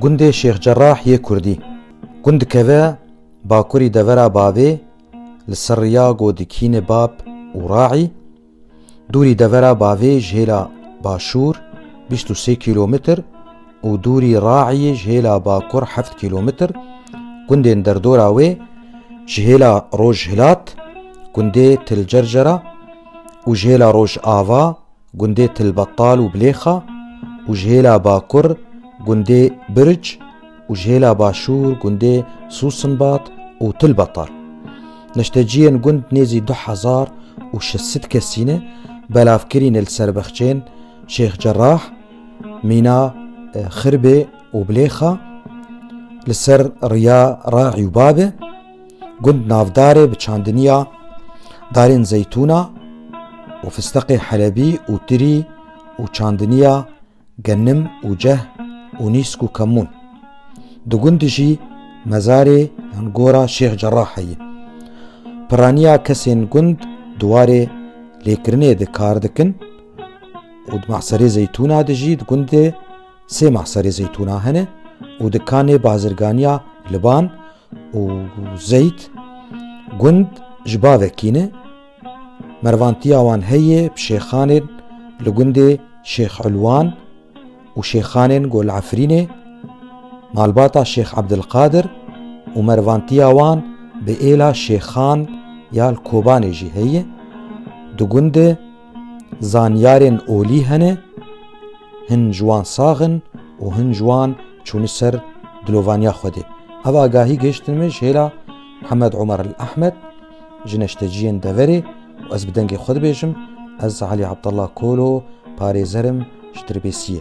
Gundê Şêx Cerrah yê Kurdî. Gund dikeve bakurî devera bavê li ser riya godikînê Bab û Raî, dûrî devera bavê ji hêla başûr bîst û sê kîlometr û dûrî Raîyê ji hêla bakur heft kîlometr, gundên derdora wê ji hêla rojhilat gundê Til Cercera û ji hêla rojava, gundê Tilbetal û Bilêxa û ji hêla bakur gundê Birc û ji hêla başûr gundê Sûsinbat û Tilbetal. Neşteciyên gund nêzî du hezar û şeş sed kesî ne, belav kirîne li ser bexçeyên Şêx Cerah, Mîna Xirbê û Bilêxa, li ser riya Raî û Babe, Gund navdarê bi çandiniya darên zeytûna û fisteqê helebî û tirî û çandiniya genim û ceh û nîsk û kemûn. Di gundî jî mezarê yan gora Şêx Cerrah heye. Piraniya kesên gund di warê lêkirinê de kar dikin û di Mahserê Zeytûna de jî di gundê sê Mahserê Zeytûna hene û dikanê bazirganiya Liban û Zeyd gund ji bavê kî ne, mervantiya wan heye bi şêxanên li gundê Şêx Ulwan û şêxanên Gol Efrînê, malbata Şêx Ebdilqadir û mervantiya wan bi êla şêxan ya li Kobanê jî heye, di gundê Zanyarên olî hene, hin ji wan sax in û hin ji wan çûne ser dilovaniya Xwedê. Ev agahî gihiştin min ji hêla Hemed Omer El Ehmed ji neşteciyên deverê û ez bi dengê xwe dibêjim, ez Elî Abdallah Kolo, parêzer im ji Dirbêsiyê.